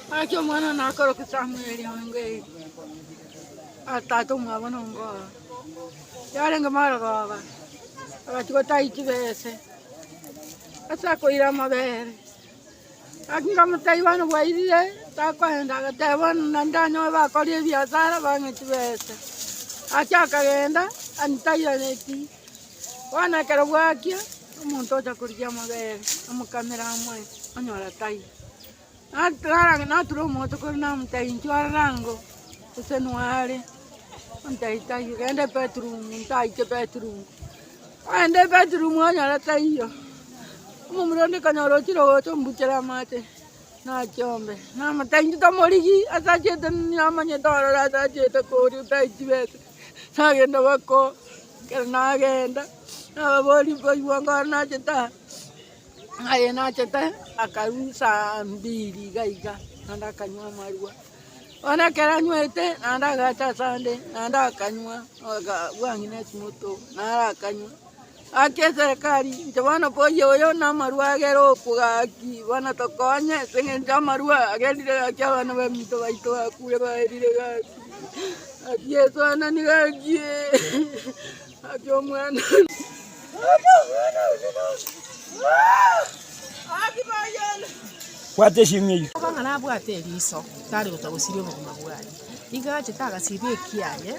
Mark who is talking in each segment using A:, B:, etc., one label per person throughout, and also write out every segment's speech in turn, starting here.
A: Gaki omwana one akorokwa Samueli ongo eri, tata omwabo nongo oo. Yarenge marogoba, agachia gotaai chibese ase akoira amabere. Gaki nkamotebi bono bwairire takoenda, agateba bono naende ndanyoe bakoria ebiasara bang'e chibese. Gaki akagenda antairane chii. Bono ekero bwakia, omonto ocha korigia amabere, amokamere amoe, onyora taiyo. Nat- nara- Natura omoto kore namotebia, inchuo aroro ango, gose noe are? Ontebia taiyo, genda ebedroom, ntaiche ebedroom. Ogenda ebedroom onyora taiyo, omomura onde konyora ochire gocha ombuchere amache, nachombe. Namotebia inchuo tomorigi, asachete, namanyete ororo asachete koria, tai chibesa. Nagenda boko, ekero nagenda, nababoria mbaigwa ngoro nachete aa, aye nachete aa, akarwa saa mbiri iga iga, naende akanywa amarwa. Bono ekero anywete, naende agacha ase ande, naende akanywa, aga bwang'ina esimoto, naende akanywa. Gaki eserekari, inche bono mboyie oyo namarua agere okwo gaki, bono tokonye, ase eng'encho amarua agerire gaki abana baminto baito bakure baerire gaki, gaki Yeso anani gaki, gaki omwana
B: one.
C: Nigo agachete agasiba ekiaye,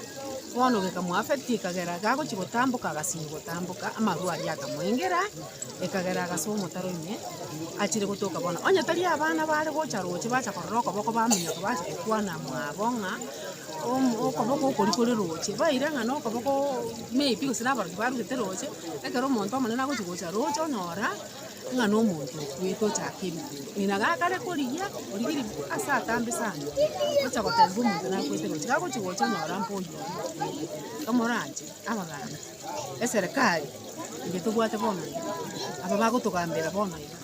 C: bono gekamoafecti ekagera gagochia gotamboka agasiba gotamboka, amarwa aria akamoengera, ekagera agasa omotaro ime, achire gotoka bono. Onye tari abana bare gocha roche bacha korora okoboko baminyoka bacha gokwana mwabo ng'a omo- okoboko okori kore roche, baira ng'a nokoboko maybe gose nabarokia barugete roche, ekero omonto omonene agochia gocha roche onyora. ng'a nomonto okwete ochake ebikwi, ng'ina gakare korigia, origie rikwi ase atambe sana, gocha gotebia omonto nakwete gocha, gagochi gocha onyora mboyo oria, komoranche abaganga, eserekari eye tobwate bono iga, aba bagotogambera bono iga,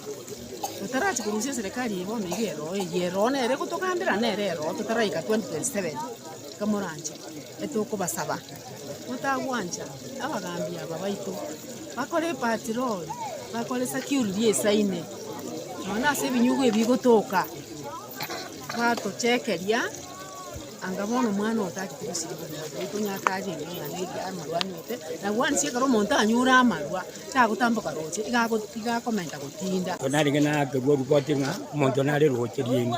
C: totarachi korusia eserekari eye bono iga ero eye, ero nere egotogambera nere ero totaraika 2027, komoranche etokobasaba. Motagwancha abagaambi aba baito, bakore epatiroli, bakore security ensa ime, nonya ase ebinyugwa ebi bigotoka, batochekeria, anga bono omwana oyo tagete gosirigia omonto baitu onye akare omwana iga amarwa anwete, nabo bono ase ekero omonto anyure amarwa, tagotamboka roche, iga ago- iga akomenta gotinda. Narenge nakerwa
B: ripoti ng'a omonto nare roche rieng'u.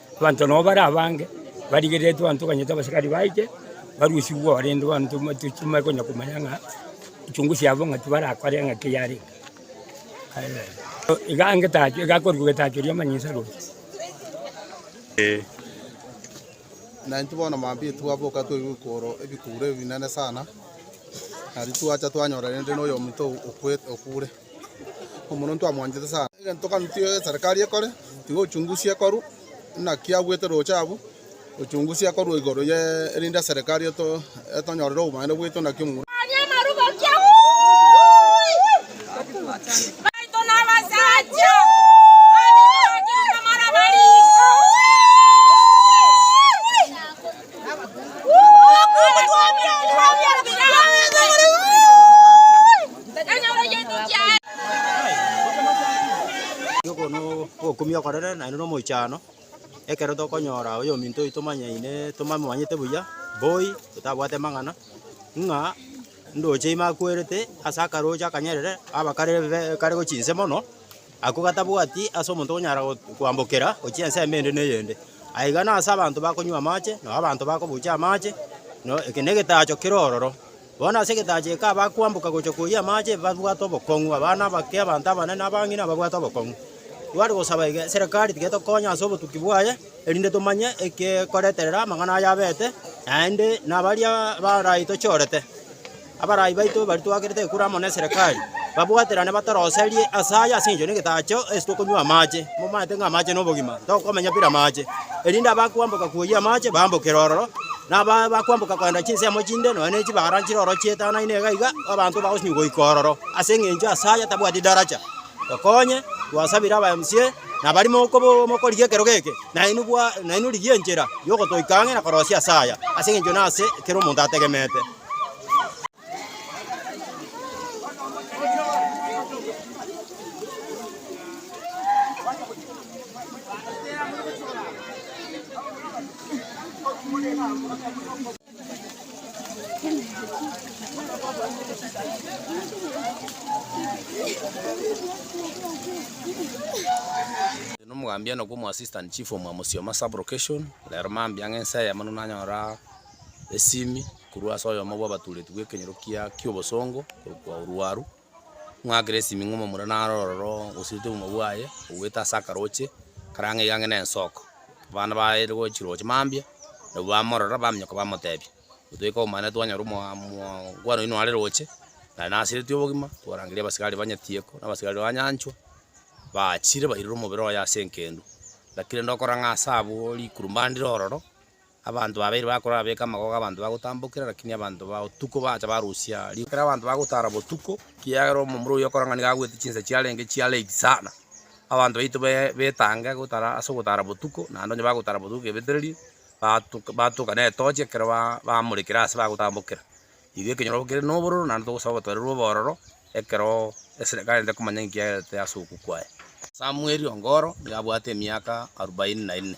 B: Abanto nao bare abange barigereretwe abanto banyete abasikari baite barusigwe oo rende abanto tochimanya konya komanya ng'a uchunguzi yabo ng'a tibarakore ng'aki yarenge. Iga ngetacho iga akorigwe getacho ri'amanyinsa roria.
D: Na intwe bono maambia erio twaboka twaigwa ebikoro ebikure ebinene sana, na intwe twacha twanyora rende na oyominto okwete okure. Omoronto amwanchete sana. Egento gani tiga eserekari ekore, tiga ochunguzi ekorwe buna ki abuete roche abwo, ochunguzi ekorwe igoro ye erinde eserekari eto etonyorere obobaani bweito naki omogwekano.
E: Ogo nobokumia okorere naende nomoichano, ekero tokonyora oyo ominto oito tomanyaine tomomanyete buya, boy totabwate mang'ana, ng'a ndoche ime akwerete ase akaroche akanyerere, abakare be kare gochia inse mono. Ako gatabwati ase omonto onyara kwambokera gochia ensemo ende neyende. Aiga nase abanto bakonywa amache, na abanto bakobucha amache, na eke negetacho kere ororo. Bono ase egetacho eke abakwamboka gocha koyia amache babwate obokong'u, abana abake, abanto abanene, abang'ina babwate obokong'u. Tware gosaba iga, eserekari tiga etokonye ase obotuki bwaye, erinde tomanye ekekoreterera amang'ana aya abete, naende nabaria baraitochorete. Abarai baito baria twakerete ekura amo neserekari, babwaterane batoroserie aase aya ase engencho y'egetacho, ase tokonywa amache, momanyete ng'a amache nobogima, tokomenya bire amache, erinde abakwamboka koyia amache bambokere ororo, na abaa bakwamboka kogenda chinsemo chinde nonya ne chibara nchire ororo chietanaine iga iga, abanto bagosinywa goika ororo. Ase engencho aase aya tabwati daracha, tokonye, twasabire aba MC na abari mokobo mokorigia ekerogo eke, nainwe bwa nainwe rigia enchera yogotoika ang'e na korosia aase aya, ase engencho nase ekero omonto ategemete.
F: Nomogambia enoka omo assistant chief omwa Musioma sub location, rero mambia ng'a ense eyemo nigo nanyora. esimi korwa ase oyomo bw'abatuureti bw'ekenyoro kia ki'obosongo korokwa Oruaru, ng'akere esimi ng'a omomura naro ororo osiete obogima bwaye, obuete ase akaroche kare ang'e iga ang'e na ensoko. Abana baye rigo chiroche mambia, nabwo bamorora baminyoka bamotebia, Gotoika obomo naende twanyora omoa moango oino are roche, naye nasiretie obogima, twarangeria abasigari ba Nyatieko, na abasigari ba Nyanchwa, baachire bairire omobere oye ase engendu. Lakini rende okora ng'a ase abwo rikuru mbandire ororo. Abanto babeire bakorora beka amagogo abanto bagotambokera, lakini abanto ba otuko bacha barusia riko. Ekero abanto bagotara botuko, ekiagera omomura oyio okorang'ani gagwete chinsa chiarenge chia late sana, abanto baito betange gotara ase ogotara botuko, naende onye bagotara botuko kebetererie, batoka netochi ekero bamorekire ase bagotambokera. Igo ekenyoro obo kere nobororo, naende togosaba obatwarerwe obororo ekero eserekari ere komanya ninki yagerete ase okwo kwaye. Samweli o Goro nigo abwate emiaka arubaini na ine.